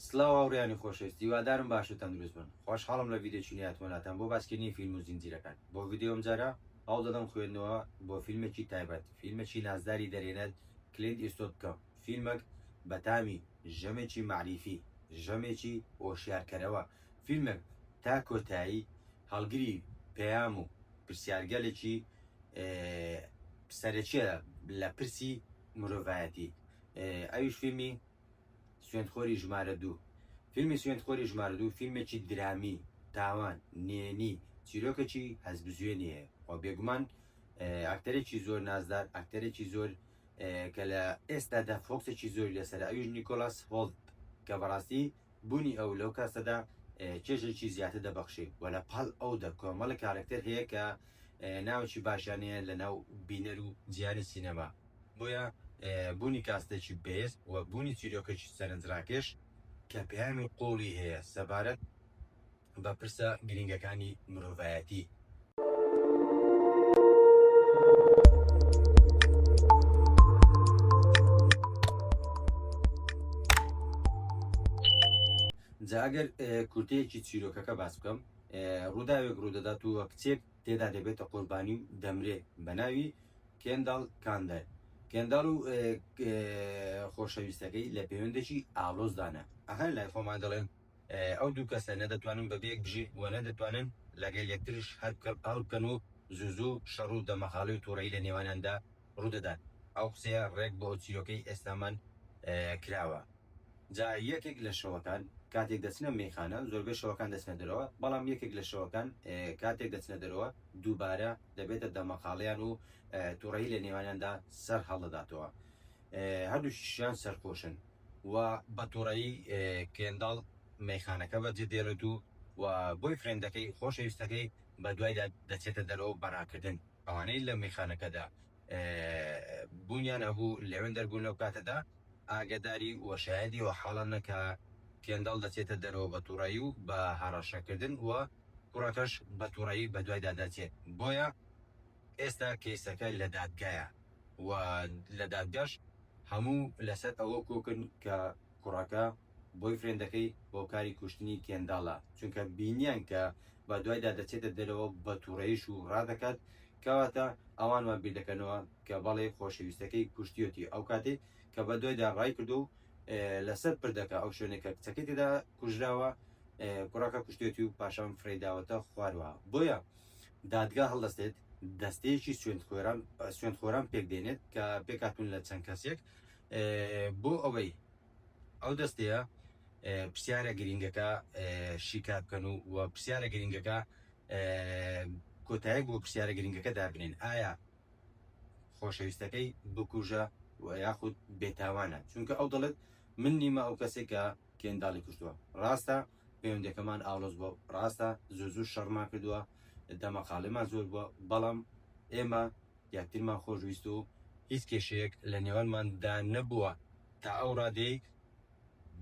سلاو هاوریانی خۆشەویست هیوادارم باش و تەندروست بن خۆشحاڵم لە ڤیدیۆکی نوێ هاتمە لاتان بۆ باسکردنی فیلم و زینجیرەکان بۆ ڤیدیۆ ئەم جارە هەوڵ دەدەم خوێندنەوە بۆ فیلمێکی تایبەت فیلمێکی نازداری دەرێنەر کلینت ئیستۆت بکەم فیلمەک بە تامی ژەمێکی مەعریفی ژەمێکی ئۆشیارکەرەوە فیلمێک تا کۆتایی هەڵگری پەیام و پرسیارگەلێکی سەرەکیە لە پرسی مرۆڤایەتی ئەویش فیلمی سوێندخۆری ژمارە دوو فیلمی سوێندخۆری ژمارە دوو فیلمێکی درامی، تاوان، نێنی، چیرۆکەکی هەستبزوێنی هەیە و بێگومان ئەکتەرێکی زۆر نازدار ئەکتەرێکی زۆر کە لە ئێستادا فۆکسێکی زۆری لەسەر ئەویش نیکۆلاس هۆڵت کە بەڕاستی بوونی ئەو لەو کاسەدا چێژێکی زیاتر دەبەخشێ و لە پاڵ ئەودا کۆمەڵە کارەکتەر هەیە کە ناوێکی باشیانەیە لەناو بینەر و جیهانی سینەما. بۆیە بوونی کاستێکی بەهێز و بوونی چیرۆکێکی سەرنجڕاکێش کە پەیامی قووڵی هەیە سەبارەت بە پرسە گرینگەکانی مرۆڤایەتی، جا ئەگەر کورتەیەکی چیرۆکەکە باس بکەم، ڕووداوێک ڕوودەدات و کچێک، تێدا دەبێتە قوربانی و دەمرێ بە ناوی کێنداڵ کاندەر کێنداڵ و خۆشەویستەکەی لە پەیوەندێکی ئاڵۆزدانە ئەهەر لای خۆمان دەڵێن ئەو دوو کەسە نەدەتوانن بە بێک بژی و نەدەتوانن لەگەل یەکترش هەر بکە پاڵ بکەن و زوزوو شەڕ و دەمەغاڵێ و توڕەیی لە نێوانیاندا ڕوودەدات ئەو قسەیە ڕێک بۆ ئەو چیرۆکەی ئێستامان کراوە. جا یەکێک لە شەوەکان کاتێک دەچنە مەیخانە، زۆربەی شەوەکان دەچنە دەرەوە، بەڵام یەکێک لە شەوەکان کاتێک دەچنە دەرەوە دووبارە دەبێتە دەمەقاڵێیان و توڕەیی لە نێوانیاندا سەر هەڵدەداتەوە. هەردووکیشیان سەرخۆشن و بە توڕەیی کێنداڵ مەیخانەکە بەجێ دێڵێت و و بۆیفرێندەکەی، خۆشەویستەکەی، بەدوایدا دەچێتە دەرەوە بە راکردن. ئەوانەی لە مەیخانەکەدا بوونیان ئەبوو لەوێن دەربوون لەو کاتەدا ئاگەداری و شایەدی ئەو حاڵە نە کە کێنداڵ دەچێتە دەرەوە بە توڕەیی و بە هەڕەشە کردن و کوڕەکەش بە توڕەیی بە دوایدا دەچێت بۆیە ئێستا کەیسەکە لە دادگایە و لە دادگاش هەموو لەسەر ئەوە کۆکن کە کوڕەکە بۆی فرێندەکەی هۆکاری کوشتنی کێنداڵە چونکە بینیان کە بە دوایدا دەچێتە دەرەوە بە توڕەیش و ڕادەکات کەواتە ئەوان وان بیردەکەنەوە کە بەڵێ خۆشەویستەکەی کوشتیۆتی ئەو کاتەی کە بە دوایدا ڕایکردو و لەسەر پردەکە ئەو شوێنێک کە کچەکەی تێدا کوژراوە کوڕەکە کوشتێتی و پاشان فرەیداوەتە خواروە بۆیە دادگا هەڵدەستێت دەستەیەکی سوێندخۆران سوێندخۆران پێک دێنێت کە پێکاتون لە چەند کەسێک بۆ ئەوەی ئەو دەستەیە پرسیارە گرنگەکە شیکار بکەن و و پرسیارە گرنگەکە کۆتایەک بۆ پرسیارە گرنگەکە دابنێن ئایا خۆشەویستەکەی بکوژە و یاخود بێتاوانە چونکە ئەو دەڵێت من نیمە ئەو کەسێک کە کێنداڵی کوشتووە ڕاستە پەیوەندەکەمان ئاڵۆز بۆ ڕاستە زۆزور شەڕمان کردووە دەمەقاڵێمان زۆر بووە بەڵام ئێمە یەکترمان خۆشویست و هیچ کێشەیەک لە نێوانمان دا نەبووە، تا ئەو ڕادەی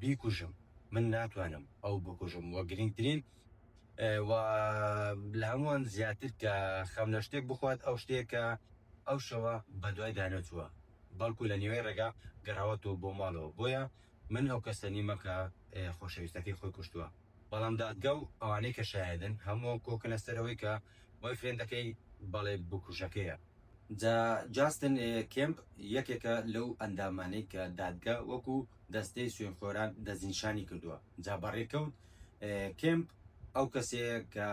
بیکوژم من ناتوانم ئەو بکوژم وە گرینگترین وە لە هەمووان زیاتر کە خەم لە شتێک بخوات ئەو شتەیە کە ئەو شەوە بە دوای دا نەچووە بەڵکو لە نیوەی ڕێگا گەڕاوەتەوە بۆ ماڵەوە بۆیە من ئەو کەسە نیمە کە خۆشەویستەکەی خۆی کوشتووە. بەڵام دادگا و ئەوانەی کە شایەدن هەمووان کۆکەنە سەر ئەوەی کە بۆیفرێندەکەی بەڵێ بکوژەکەیە. جا جاستن کێمپ یەکێکە لەو ئەندامانەی کە دادگا وەکو دەستەی سوێنخۆران دەستنیشانی کردووە، جا بەڕێکەوت کێمپ ئەو کەسەیە کە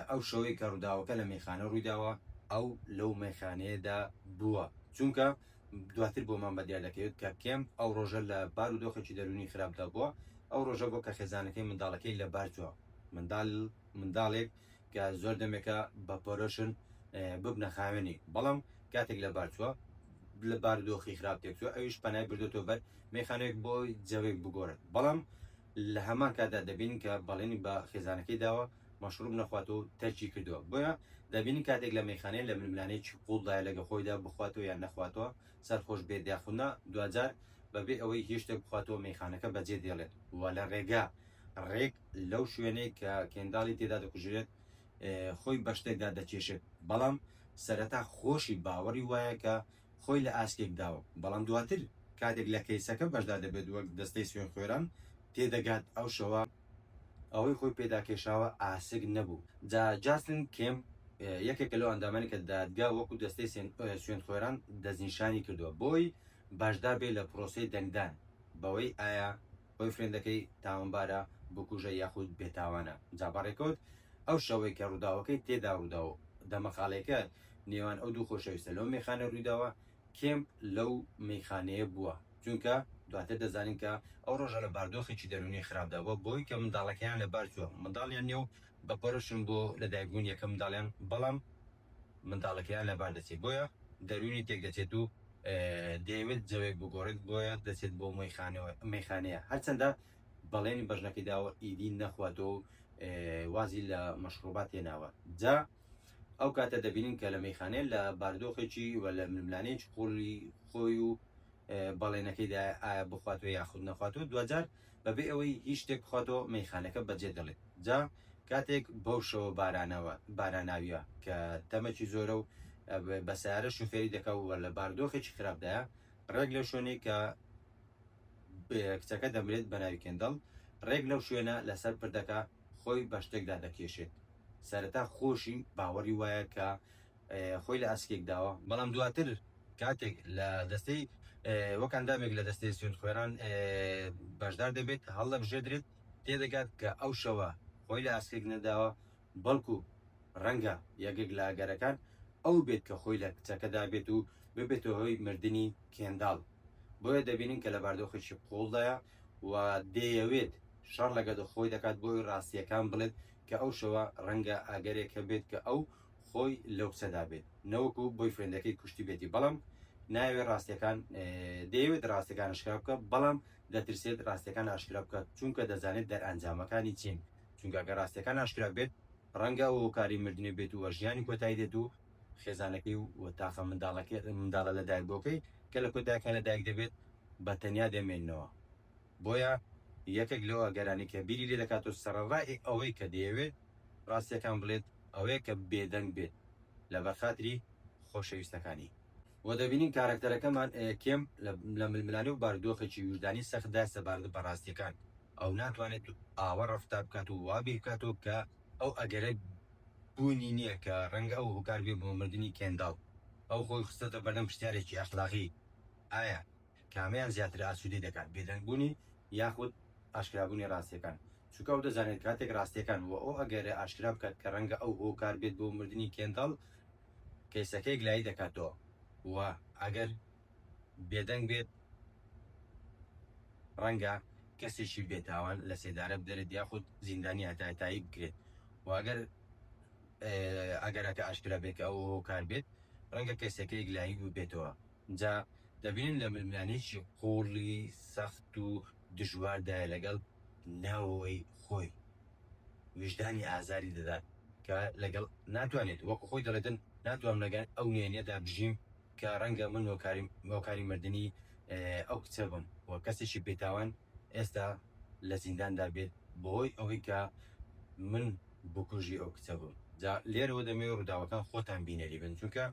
ئەو شەوەی کە ڕووداوەکە لە مەیخانە ڕوویداوە ئەو لەو مەیخانەیەدا بووە چونکە دواتر بۆمان بە دیار دەکەوێت کە کێم ئەو ڕۆژە لە بار و دۆخێکی دەروونی خراپدا بووە ئەو ڕۆژە بۆ کە خێزانەکەی منداڵەکەی لە بار چووە مندال منداڵێک کە زۆر دەمێکە بە پۆرۆشن ببنە خاوێنی بەڵام کاتێک لە بار چووە لە بار دۆخی خراپ تێکچوە ئەویش پەنای بردۆتەوە بەر مێخانەیەک بۆ جەوێک بگۆرن بەڵام لە هەمان کاتدا دەبینین کە بەڵێنی بە خێزانەکەی داوە مەشڕوب نەخواتەوە و تەرکی کردووە، بۆیە دەبینین کاتێک لە مەیخانەیە لە ململانێیەکی قووڵدایە لەگەڵ خۆیدا بخواتەوە یان نەخواتەوە، سەرخۆش بێت یاخود نا، دواجار بەبێ ئەوەی هیچ شتێک بخواتەوە مەیخانەکە بەجێ دێڵێت و لە ڕێگا ڕێک لەو شوێنەی کە کێنداڵی تێدا دەکوژرێت خۆی بە شتێکدا دەکێشێت، بەڵام سەرەتا خۆشی باوەڕی وایە کە خۆی لە ئاسکێک داوە، بەڵام دواتر کاتێک لە کەیسەکە بەشدار دەبێت وەک دەستەی سوێنخۆێران تێدەگات ئەو شەوە ئەوەی خۆی پێداکێشاوە ئاسک نەبوو. جا جاسلین کێمپ یەکێکە لەو ئەندامانەی کە دادگا وەکو دەستەی سوێنخۆێران دەستنیشانی کردووە بۆی بەشدار بێت لە پرۆسەی دەنگدان بەوەی ئایا بۆیفرێندەکەی تاوانبارە بکوژە یاخود بێ تاوانە جا بەڕێکەوت ئەو شەوەی کە ڕوداوەکەی تێدا ڕودا و دەمەقاڵێکە نێوان ئەو دوو خۆشەویستە لەو مەیخانە ڕویداوە کێمپ لەو مەیخانەیە بوە جونکە دواتر دەزانین کە ئەو ڕۆژە لە باردۆخێکی دەرونی خراپدا بوە بۆی کە منداڵەکەیان لەبار چوە منداڵیان نیە و بەپەرۆشن بۆ لەدایکبونی یەکەم منداڵیان بەڵام منداڵەکەیان لەبار دەچێت بۆیە دەروونی تێکدەچێت و دەیەوێت جەوێک بگۆڕێت بۆیە دەچێت بۆ مەیخانەیە هەرچەندە بەڵێنی بەژنەکەی داوە ئیدی نەخواتەوە و وازی لە مەشڕوبات هێناوە جا ئەو کاتە دەبینین کە لە مەیخانەیە لە باردۆخێکی و لە ململانێکی قوڵی خۆی و بەڵێنەکەیدا ئایا بخواتەوە یاخود نەخواتەوە دوجار بەبێ ئەوەی هیچ شتێک بخواتەوە مەیخانەکە بەجێ دەڵێت جا کاتێک بەو شەوە بارانەوە باراناویە کە تەمەکی زۆرە و بە سیارە شوفێری دەکا و لە باردۆخێکی خراپدایە ڕێک لەو شوێنەی کە کچەکە دەمرێت بە ناوی کێندەڵ ڕێک لەو شوێنە لەسەر پردەکە خۆی بە شتێکدا دەکێشێت سەرەتا خۆشی باوەڕی وایە کە خۆی لە ئاسکێک داوە، بەڵام دواتر کاتێک لە دەستەی وەک ئەندامێک لە دەستەی سوێندخوێڕان بەشدار دەبێت هەڵدەبژێدرێت، تێدەگات کە ئەو شەوە خۆی لە ئاسکێک نەداوە، بەڵکو ڕەنگە یەکێک لە ئەگەرەکان ئەو بێت کە خۆی لە کچەکە دابێت و ببێتە هۆی مردنی کێنداڵ، بۆیە دەبینین کە لە باردۆخێکی قووڵدایە و دەیەوێت شەڕ لەگەدڵ خۆی دەکات بۆی ڕاستییەکان بڵێت کە ئەو شەوە ڕەنگە ئەگەرێک هەبێت کە ئەو خۆی لەو قسەدا بێت نەوەکو بۆی فرێندەکەی کوشتی بێتی بەڵام ناوێ ڕاستەکان دەیەوێت ڕاستەکان ئەشکرا بکە بەڵام دەترسێت ڕاستەکان ئاشکرا بکە چونکە دەزانێت دەرئەنجامەکانی چین چونکە گە ڕاستەکان ئاشکرا بێت ڕەنگە ئەو هۆکاری مردنی بێت و ژیانی کۆتایی دێت و خێزانەکەی و تاقە منداڵەکەی منداڵە لە دایکبووەکەی کە لە کۆداکە لە دایک دەبێت بە تەنیا دەمێنەوە. بۆیە یەکێک لەو ئەگەرانەی کە بیری لێ دەکات و سەرەڕای ئەوەی کە دەیەوێت ڕاستییەکان بڵێت ئەوەیە کە بێدەنگ بێت لەبەر خاتری خۆشەویستەکانی. وە دەبینین کارەکتەرەکەمان کێم لە ململانێ و باردۆخێکی ویژدانی سەختدا سەبارەت بە ڕاستییەکان ئەو ناتوانێت ئاوا ڕەفتار بکات و وا بیر بکاتەوە کە ئەو ئەگەرە بوونی نییە کە ڕەنگە ئەو هۆکار بێت بۆ مردنی کێنداڵ ئەو خۆی خستۆتە بەردەم پرسیارێکی ئەخلاقی ئایا کامەیان زیاتر ئاسوودەی دەکات، بێدەنگبوونی یاخود ئاشکرابوونی ڕاستییەکان؟ چونکە ئەو دەزانێت کاتێک ڕاستییەکان و ئەو ئەگەرە ئاشکرا بکات کە ڕەنگە ئەو هۆکار بێت بۆ مردنی کێنداڵ، کەیسەکەی گلایی دەکاتەوە و ئەگەر بێدەنگ بێت ڕەنگە کەسێکی بێتاوان لە سێدارە بدەرێت یاخود زیندانی هەتاهەتایی بکرێت و ئەگەر ئەگەرەکە ئاشکرا بێت کە ئەو هۆکار بێت ڕەنگە کەیسەکەی گلایی ببێتەوە. جا دەبینن لە ململانێیەکی قووڵی سەخت و دژواردایە لەگەڵ نەوەی خۆی، ویژدانی ئازاری دەدات کە لەگەڵ ناتوانێت، وەکو خۆی دەڵێتن ناتوانم لەگەن ئەو نهێنیەدا بژیم کە ڕەنگە من هۆکاری هۆکاری مردنی ئەو کچە بم و کەسێکی بێتاوان، ئێستا لە زینداندا بێت بەهۆی ئەوەی کە من بکوژی ئەو کچە بووم جا لێرەوە دەمەوێت ڕووداوەکان خۆتان بینەری بن چونکە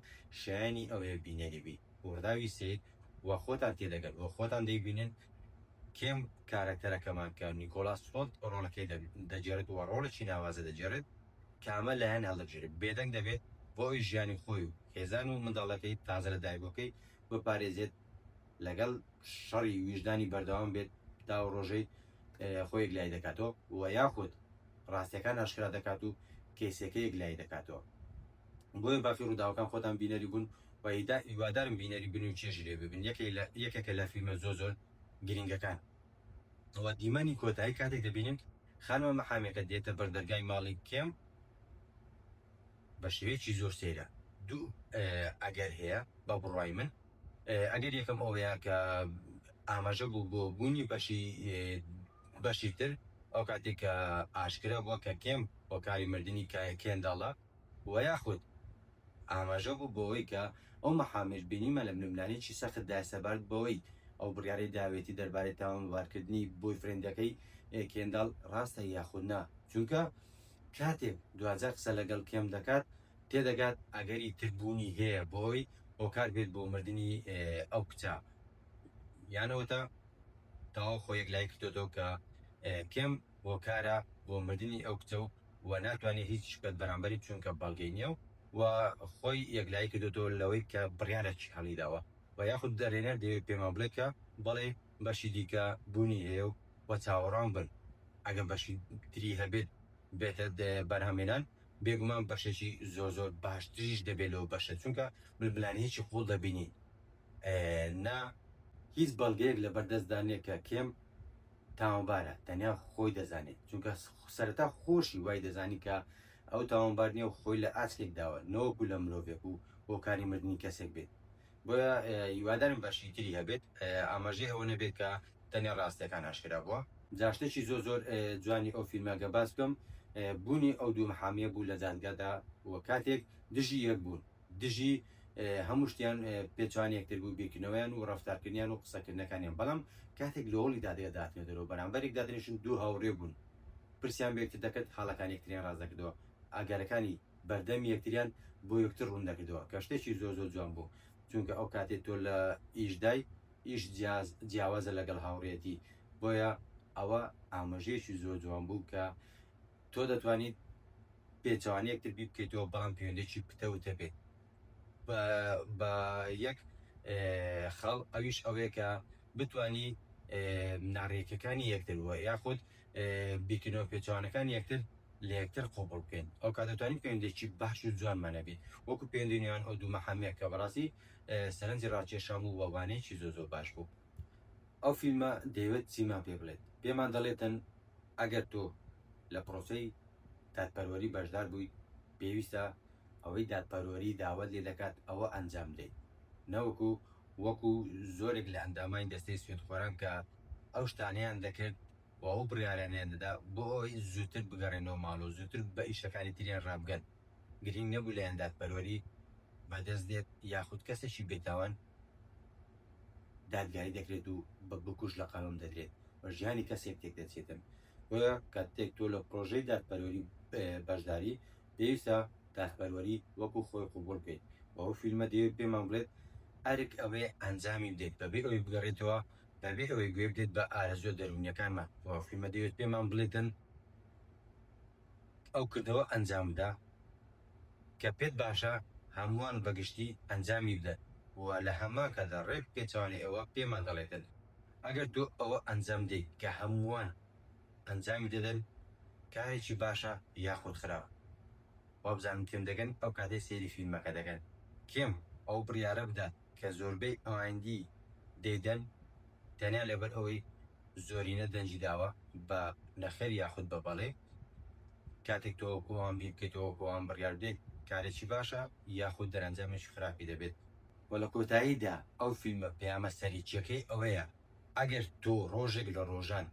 شایەنی ئەوەیە بینەری بی ڕووداوی سەید و خۆتان تێدەگەن و خۆتان دەیبینن کێم کارەکتەرەکەمان کە نیکۆلاس هۆلت ڕۆڵەکەی دەگێڕێت و ڕۆڵێکی ناوازە دەگێڕێت کامە لایەن هەڵدەبژێرێت بێدەنگ دەبێت بۆ ئەوەی ژیانی خۆی و خێزان و منداڵەکەی تازە لەدایکبووەکەی بپارێزێت لەگەڵ شەڕی ویژدانی بەردەوام بێت تا ئەو ڕۆژەی خۆی یەکلایی دەکاتەوە و یاخود ڕاستیەکان ئاشکرا دەکات و کەیسەکە یەکلایی دەکاتەوە بۆیە بافی ڕووداوەکان خۆتان بینەری بوون و هیدا هیوادارم بینەری بن و چێژی لێ ببن یەکێکە لە فیلمە زۆر زۆر گرنگەکان و دیمەنی کۆتایی کاتێک دەبینین خانمە مەحامەکە دێتە بەر دەرگای ماڵی کێم بە شێوەیەکی زۆر سەیرە دوو ئەگەر هەیە بە بڕوای من ئەگەر یەکەم ئەوەیە کە ئاماژە بوو بۆ بوونی بەشی بەشی تر ئەو کاتێک کە ئاشکرا بووە کە کێم هۆکاری مردنی کێنداڵە و یاخود ئاماژە بوو بەوەی کە ئەو مەحامێش بینیمان لە بنەبنانێکی سەختدا سەبارەت بەوەی ئەو بڕیارەی داوێتی دەربارەی تاوانبارکردنی بۆیفرێندەکەی کێنداڵ ڕاستە یاخود نا چونکە کاتێک دواجار قسە لەگەڵ کێم دەکات تێدەگات ئەگەری تر بوونی هەیە بۆی هۆکار بێت بۆ مردنی ئەو کچە یانەوەتە تەواو خۆ یەک لای کردۆتەوە کە کێم هۆکارە بۆ مردنی ئەو کچە و و ناتوانێت هیچ شکت بەرامبەری چونکە بەڵگەی نییە و و خۆی یەکلایی کردوەوە لەوەی کە بڕیارەکی هەڵیداوە و یاخود دەرێنەر دەوێت پێمان بڵێت کە بەڵێ بەشی دیکە بوونی هەیە و و چاوەڕوان بن ئەگەر بەشی تری هەبێت بێتە بەرهەمهێنان بێگومان بەشێکی زۆر زۆر باشتریش دەبێت لەو بەشە چونکە ململانێیەکی قوڵ دەبینین نا هیچ بەڵگەیەک لەبەردەستدا نیە کە کێم تاوانبارە تەنیا خۆی دەزانێت چونکە سەرەتا خۆشی وای دەزانی کە ئەو تاوانبار نیە و خۆی لە ئاسکێک داوە نەوەکو لە مرۆڤێک و هۆکاری مردنی کەسێک بێت بۆیە هیوادارم بەشی تری هەبێت ئاماژەی ئەوە نەبێت کە تەنێ ڕاستیەکان ئاشکرا بووە. جا شتێکی زۆر زۆر جوانی ئەو فیلمە گەر باس بکەم بوونی ئەو دوو محامیە بوو لە دادگادا و کاتێک دژی یەک بوون دژی هەموو شتیان پێچوانی یەکتر بوو بیرکردنەوەیان و ڕەفتارکردنیان و قسەکردنەکانیان بەڵام کاتێک لە هۆڵی دادگادا هاتنە دەرەوە بەرامبەر یەک دادەنیشتن دوو هاوڕێ بوون پرسیان بە یەکتر دەکرد خاڵەکانی یەکتریان ڕاست دەکردەوە ئاگارەکانی بەردەمی یەکتریان بۆ یەکتر ڕوون دەکردەوە کە شتێکی زۆر زۆر جوان بوو چونکە ئەو کاتێ تۆ لە ئیشدای ئیش جیاز جیاوازە لەگەڵ هاوڕێتی بۆیە ئەوە ئاماژەیەکی زۆر جوان بوو کە تۆ دەتوانیت پێچوانی یەکتر بی بکەیتەوە بەڵام پەیوەندێکی پتەوتە بێت بە یەک خەڵ ئەویش ئەوەیە کە بتانی ناڕێکەکانی یەکتر وە یاخود بیکەینەوە پێچەوانەکانی یەکتر لە یەکتر قۆپڵ بکەین ئەو کاتە توانین پەیوەندێکی باش و جوانمان هەبێ وەکو پەیوەندی نێوان ئەو دوو مەحەمەیە کە بەڕاستی سەرنجی ڕاکێشام و وانەیەکی زۆر زۆر باش بوو ئەو فیلمە دەیەوێت چیمان پێ بڵێت پێمان دەڵێتن ئەگەر تۆ لە پرۆسەی دادپەروەری بەشدار بوویت پێویستە ئەوەی دادپەروەری داوەت لێ دەکات ئەوە ئەنجام بدەیت نەوەکو وەکو زۆرێک لە ئەندامانی دەستەی سوێندخۆران کە ئەو شتانەیان دەکرد و ئەو بڕیارانەیان دەدا بۆ ئەوەی زووتر بگەڕێنەوە ماڵ و زووتر بە ئیشەکانی تریان ڕابگەن، گرینگ نەبوو لایەن دادپەروەری بەدەست دێت یاخود کەسێکی بێتاوان دادگایی دەکرێت و بە بکوژ لە قەڵەم دەدرێت و ژیانی کەسێک تێکدەچێتن، بۆیە کاتێک تۆ لە پرۆژەی دادپەروەری بەشداری پێویستە دادپەروەری وەکو خۆی قبوڵ بکەیت و ئەو فیلمە دەیەوێت پێمان بڵێت، ئەرک ئەوەیە ئەنجامی بدەیت بەبێ ئەوەی بگەڕێیتەوە بەبێ ئەوەی گوێ بدەیت بە ئارەزووە دەروونیەکانمان و فیلمە دەیەوێت پێمان بڵێتن ئەو کردەوە ئەنجام بدە کە پێت باشە هەمووان بە گشتی ئەنجامی بدەن و لە هەمان کاتدا ڕێک پێچەوانەی ئەوە پێمان دەڵێتن ئەگەر تۆ ئەوە ئەنجام بدەیت کە هەمووان ئەنجامی دەدەن کارێکی باشە یاخود خراپ وابزانم کێم دەگەن ئەو کاتەی سەیری فیلمەکە دەکەن کێم ئەو بڕیارە بدات کە زۆربەی ئەوایندی دەیدەن تەنیا لەبەر ئەوەی زۆرینە دەنگی داوە بە نەخێر یاخود بە بەڵێ، کاتێک تۆ وەکو ئەوان بیر بکەیت و وەکو ئەوان بڕیار بدەیت کارێکی باشە یاخود دەرەنجامێکی خراپی دەبێت. وە لە کۆتاییدا ئەو فیلمە پەیامە سەرەکیەکەی ئەوەیە ئەگەر تۆ ڕۆژێک لە ڕۆژان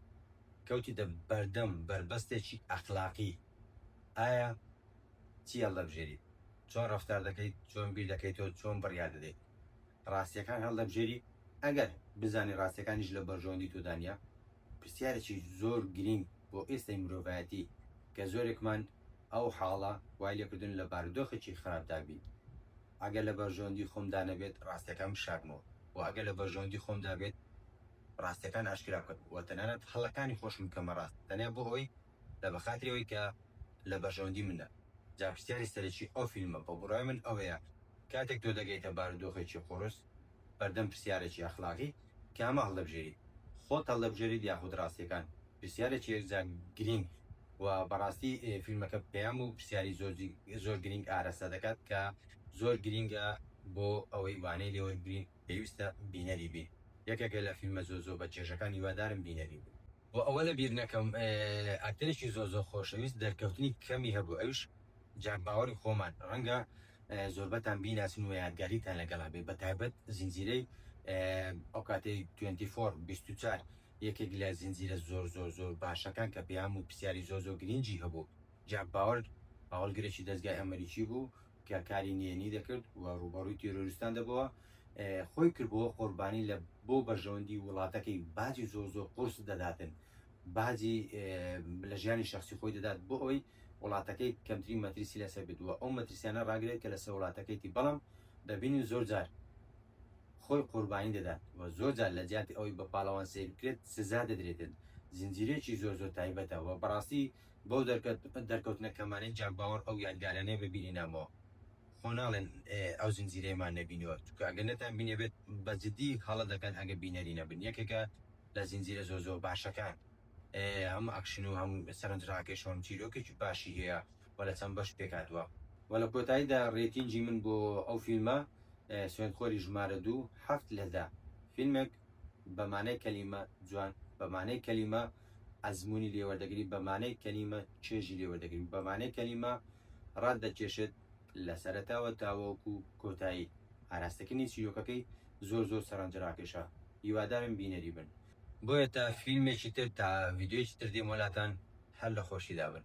کەوتیتە بەردەم بەربەستێکی ئەخلاقی ئایا چی هەڵدەبژێریت؟ چۆن ڕەفتار دەکەیت، چۆن بیر دەکەیتەوە، چۆن بڕیار دەدەیت. ڕاستییەکان هەڵدەبژێری، ئەگەر بزانی ڕاستییەکانیش لە بەرژەوەندی تۆدا نییە. پرسیارێکی زۆر گرینگ بۆ ئێستای مرۆڤایەتی کە زۆرێکمان ئەو حاڵە وای لێکردوون لە بارودۆخێکی خراپدا بین، ئەگەر لە بەرژەوەندی خۆمدا نەبێت ڕاستییەکان بشارمەوە و ئەگەر لە بەرژەوەندی خۆمدا بێت ڕاستییەکان ئاشکرا بکەم و تەنانەت هەڵەکانی خۆشم بکەمە ڕاست تەنیا بۆ ئەوەی لە بەخاتری ئەوەی کە لە بەرژەوەندی منە جا پرسیاری سەرەکی ئەو فیلمە بە بڕوای من ئەوەیە کاتێک تۆ دەگەیتە بارودۆخێکی قوڕس بەردەم پرسیارێکی ئەخلاقی کامە هەڵدەبژێریت خۆت هەڵدەبژێریت یاخود ڕاستیەکان پرسیارێکی یەکجار گرینگ و بەڕاستی فیلمەکە پەیام و پرسیاری زۆر گرینگ ئارەستە دەکات کە زۆر گرینگە بۆ ئەوەی وانەی لێوەربگرین پێویستە بینەری بین یەکێکە لە فیلمە زۆر زۆر بە چێژەکان هیوادارم بینەری بین. وە ئەوە لە بیر نەکەم ئەکتەرێکی زۆر زۆر خۆشەویست دەرکەوتنی کەمی هەبوو ئەویش جاک باوەری خۆمان ڕەنگە زۆربەتان بیناسن و یادگاریتان لەگەڵا بێ بە تایبەت زنجیرەی ئەو کاتەی 24 24 یەکێک لە زنجیرە زۆر زۆر زۆر باشەکان کە پەیام و پرسیاری زۆر زۆر گرینگی هەبوو جاک باوەر هەواڵگرێکی دەزگای ئەمەریکی بوو کە کاری نهێنی دەکرد و ڕووبەڕووی تیرۆریستان دەبەوە خۆی کردبووە قۆربانی لە بۆ بەرژەوەندی وڵاتەکەی و باجی زۆر زۆر قورس دەداتن باجی لە ژیانی شخصی خۆی دەدات بۆ ئەوی وڵاتەکەی کەمترین مەترسی لەسەر بدووە ئەو مەترسیانە ڕاگرێت کە لەسەر وڵاتەکەیتی بەڵام دەبینین زۆر جار خۆی قوربانی دەدات و زۆر جار لە جیاتی ئەوەی بە پاڵەوان سیر بکرێت سزا دەدرێتن زنجیرەیەکی زۆر زۆر تایبەتە و بەڕاستی بەو دەرکەوتنە کەمانەی جاک باوەڕ ئەو یادگارانەیە بە بیری نامەوە. خۆ ناڵێن ئەو زنجیرەیەمان نەبینیوە چونکە ئەگەر نەتان بینێبێت بە جدی هەڵە دەکەن ئەگەر بینەری نەبن یەکێکە لە زنجیرە زۆر زۆر باشەکان هەم ئەکشن و هەم سەرنج ڕاکێش و هەم چیرۆکێکی باشی هەیە و لە چەند بەش پێکهاتووە و لە کۆتاییدا ڕێتینگی من بۆ ئەو فیلمە سوێندخۆری ژمارە دوو هەفت لە دە فیلمێک بە مانای کەلیمە جوان بە مانای کەلیمە ئەزموونی لێوەردەگری بە مانای کەلیمە چێژی لێوەردەگری بە مانای کەلیمە ڕات دەکێشێت لە سەرەتاوە تاوەکو کۆتایی ئاراستەکردنی چیرۆکەکەی زۆر زۆر سەرنجڕاکێشە هیوادارم بینەری بن. بۆیە تا فیلمێکی تر تا ڤیدیۆیەکی تر دێمە لاتان هەر لە خۆشیدا بن.